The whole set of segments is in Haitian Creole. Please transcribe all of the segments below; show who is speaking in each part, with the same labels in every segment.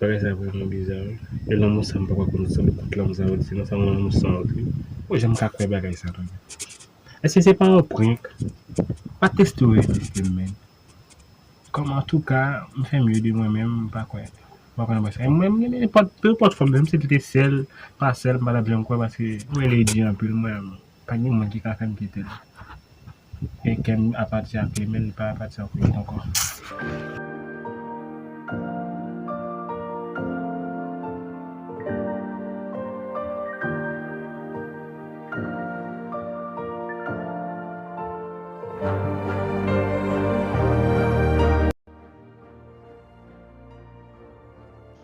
Speaker 1: Bagay sa vreman biza wi e lanmou sa mpaka konn se pou kout lanmou sa yo di se yon lanmou san wont wi oh janm ka kwè bagay sa tande eske se pa yon prank pa teste ou reziste'm menn Kòm antouka m fè mye de mwen menm m pa kwè m pa kwè nan bagay sa yo mwen renmen nenpòt peu enpòt fòm menm si li te sèl pa sèl m pa tap janm kwè paske m wè li di anpil mwen menm pa gen moun ki ka fèm kitel e kèm apati ak li men li pa apati ak mwen ankò.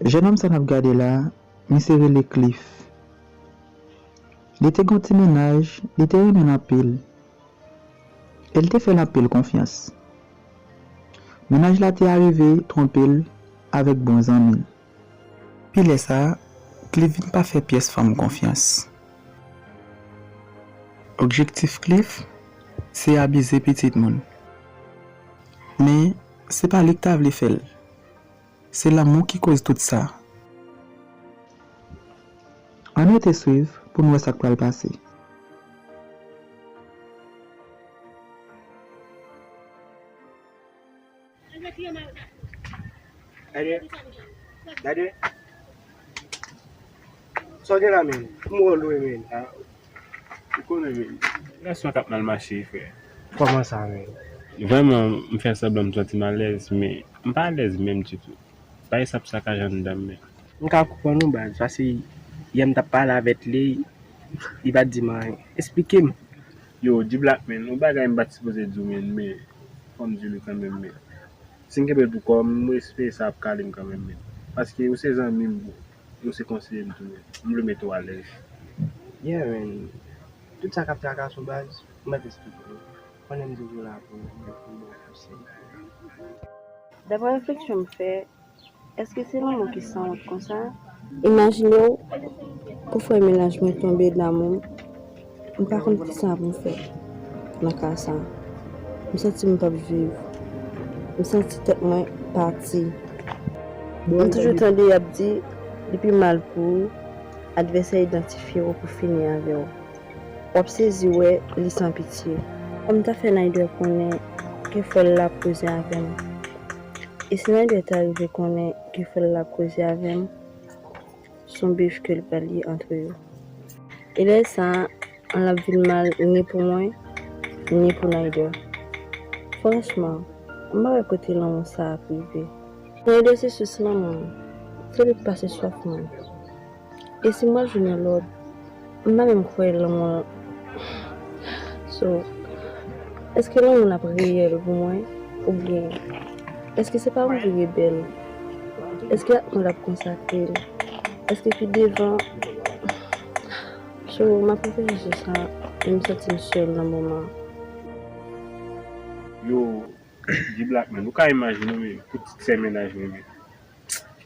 Speaker 2: Jenòm sa nap gade la, misye rele Cliff. Li te gen yon ti mennaj, li te renmen l anpil. E li te fè l anpil konfyans. Mennaj la te arive twonpe l avèk bon zanmi l. Pi lè sa, Cliff vin pa fè pyès fanm konfyans. Objektif Cliff se abize pitit moun. Men, se pa li k ta vle fè l. Se lanmou ki koz tout sa. Ann rete swiv pou n wè sa k pral pase.
Speaker 3: Gade, gade Sa w gen la menm? M wè w lwen menm
Speaker 1: Ou konnen menm Gason k ap mal mache frè Kòman sa
Speaker 3: menm? Vrèman m
Speaker 1: fè sanblan m santi m alèz men m pa alèz menm ditou Bagay sa ap sakaje anndan m menm. M ka konprann ou
Speaker 3: baz paske yè m t ap pale avè t li li pa t di m anyen Esplike m Yo diblack
Speaker 1: men yon bagay m pat sipoze diw men men fòm di li kanmenm men sim kenbel pou kòm m espere sa ap kalem kanmenm men paske ou se zanmim bro e ou se konseyem tou men m vle mete w alèz. Yeah
Speaker 3: man, tout sa kap trakas ou baz, ou mèt esplike yo. Konnenm toujou la pou ou, men pou bon konsèy.
Speaker 4: Daprè refleksyon m fè, Eske se lanmou ki sanwont konsa? Imajinew ou fè menaj mwen tonbe damou m pa konn kisa pou m fè nan ka sa m santi m pap viv m santi tèt mwen pati m toujou tande yap di li pi mal pou ou advèsè idantifye w pou fini avè w wap sezi wè li san pitye. Kòm ta fè Naider konnen ke fòl la ap koze avèm. E si Nadia ta rive konnen ke frè l la ap koze avè m, s on bif ke l pral ye antre yo. E lè sa a, l ap vin mal ni pou mwen, ni pou Nadia. Franchman, m pa wè kote lanmou sa a ap rive. Nadia se sous lanmou m. Se li k pase swaf mwen. E si mwen jwenn yon lòt m pa menm kwè lanmou an so eske lanmou an ap reyèl pou mwen oubyen eske se pa mwen ki rebèl eske ak mwen l ap konsakre l eske pi devan so m ap reflechi sou sa e m santi m sèl nan moman an.
Speaker 1: Yo di blak men nou ka imajine wi pou ti sè mennaj mwen menm.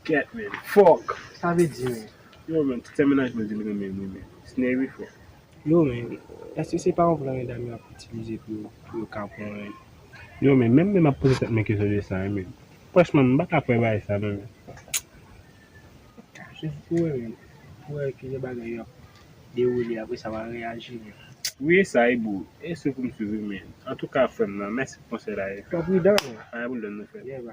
Speaker 1: Ket menn. Fòk. Sa vle di
Speaker 3: menn. Yo menn tout fè mennaj
Speaker 1: mwen dil renmen li menn. Sneh wi fò. Yo menn.
Speaker 3: Eske se pa yon plan medam yo ap itilize pou yo kapon menn. Yo menn.
Speaker 1: Menm menm ap poze tèt mwen kesyon de sa wi menn. Franchman m paka kwè bagay sa non menn.
Speaker 3: Sou pou wè menn. Pou wè kijan bagay yo ap dewoule apre sa wa reyaji menn. Wi e sa
Speaker 1: wi boo. E sou pou m swiv wi menn. Antouka frèm nan mèsi pou konsèy la e. Fò pridan menn.
Speaker 3: Fò pridan nou frèm.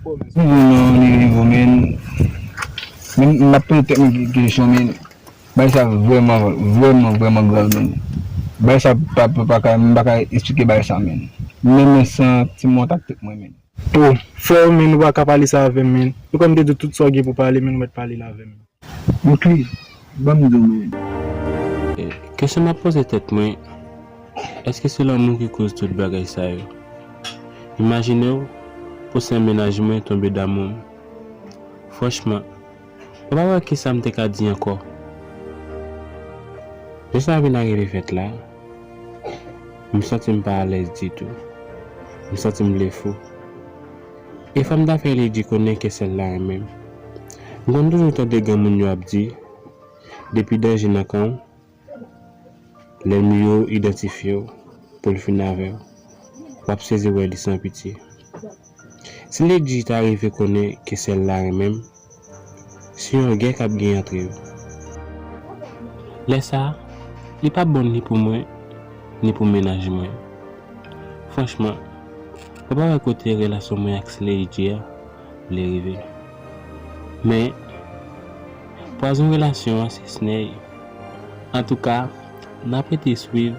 Speaker 3: Pou moun nan li vivo
Speaker 5: men m ap poze tèt mwen kesyon men bagay sa vrèman vrèman vrèman grav men bagay sa m pa ka esplike bagay sa men m renmen san ti mòt ak tout mwen men. Ou fò
Speaker 6: men ou pa ka pale sa avèm men ou kwèm te diw tout sa ou gen pou pale men ou mèt pale l avèm. Mokli,
Speaker 5: banm do mwen.
Speaker 1: Kesyon map poze tèt mwen, èske se lanmou ki koz tout bagay sa yo? Imajinew pwochen mennaj mwen tonbe damoum. Franchman, mwen pa wè kisam te ka di ankò. Lè sa vin arive fèt la, m santim pa alèz ditou. M santim vle fou. E fanm ta fè li di konnen ke sèl la renmen m. M konn toujou tande granmoun yo ap di, depi danje nan kan w, lènmi yo idantifye w pou l fini avè w. W ap sezi wè li san pitye. Si Lady ta rive konnen ke sèl la renmen m. Se yon gè k ap gen antre yo. Lè sa a, li pa bon ni pou mwen, ni pou mennaj mwen. Franchman, mwen pa wè kote relasyon mwen ak Slade je a vle rive. Men, pwazon relasyon an se Sneh. Antouka, n ap rete swiv.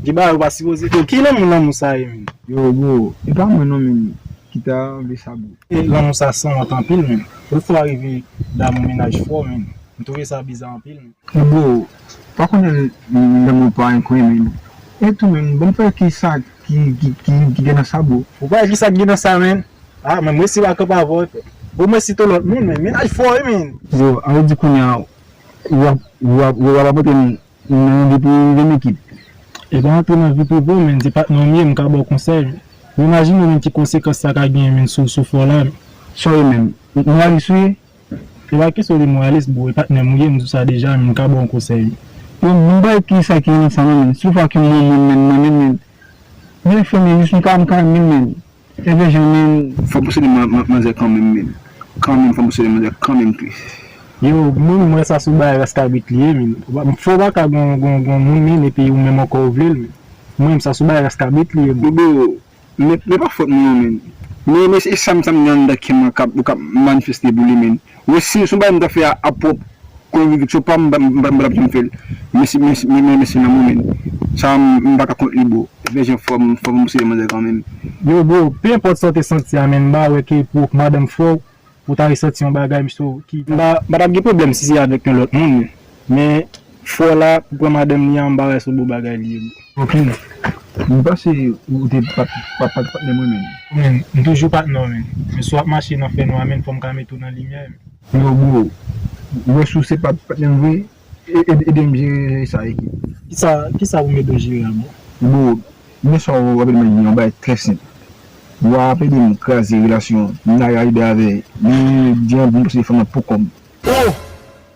Speaker 6: Gen bagay ou pa sipoze yo ki lanmou lanmou sa ye menn. Yo bro e
Speaker 5: pa mwen non menn ki ta anvi sa bro. Lanmou sa sanwont
Speaker 6: anpil menn. Ou fò rive damou mennaj fò menn. M twouve sa biza anpil menn. Yo bro pa
Speaker 5: konnen lanmou pa enkwen menn. E tou menn banm fè ki sa ki gen nan sa bro. Ou pa wè ki sa ki gen nan sa
Speaker 6: menn. Ah menn m resi pa kanpe avè w frè. Ou mwen site w lòt moun menn. Mennaj fò wi menn. Bro anvi di kounya
Speaker 5: wap wap montre m Non depi gen ekip. E pa antre
Speaker 6: nan vi prive w menn se patnè w m ye m ka ba w konsèy menn ou imajine menn ki konsekans sa ka genyen menn sou sou fò w la menn. Sorry menn.
Speaker 5: Moralis ou ye? E pa kesyon
Speaker 6: de moralis bro e patnè m ou ye m di w sa deja menn m ka ba w konsèy menn. Bon m bay
Speaker 5: ki sa ki nan san mwen menn si w fè ak yon moun menn menn mwen menn menn. Mwen fè menn jis m ka m ka menn menn Ebyen jan menm fòm pou sele manzè kanmenm menm kanmenm fòm pou sele manzè kanmenm tris. Yo min
Speaker 6: m wè sa sou bay raskabit li ye min m fè w pa ka gon gon moun min epi ou menm ankò ou vle l min m wè sa sou bay raskabit li ye min. Boo
Speaker 5: men pa fòt mwen non min men esam sam gen anndan kèm an kap ou kap manifeste pou li min Wi si son bagay m ta fè a pwòp konviviksyon pam m pa tap janm fèl mesi men mesi nan momen sa m pa ka kont li boo vè jan fòm fòm ou se yon manzè kanmenm. Yo bro, pe
Speaker 6: enpòt saw te santi a men m ba wè ke pou madanm fòw ou ta resanti yon bagay m so ki. M pa tap gen pwoblèm si se avèk yon lòt moun. Men fo la pou pran madanm li an mpa wè se bon bagay li ye bro. Ok
Speaker 5: m panse ou te pap pap pat patnèm wi menn. Ou menn m toujou patnè w
Speaker 6: menn. Men si wap mache nan fè nwa menn fòm ka mete w nan limyè menn. Yo bro,
Speaker 5: m wè si w se pap patnèm vre edem jere sa ekip. Kisa kisa pou m
Speaker 6: ede w jere a bro? Yo bro,
Speaker 5: men sa w ap ede mwen jere yon bagay trè senp. Wa ap ede m kraze relasyon Naya ribe avè Lil Diamb m panse fanm nan poko m. Ohh!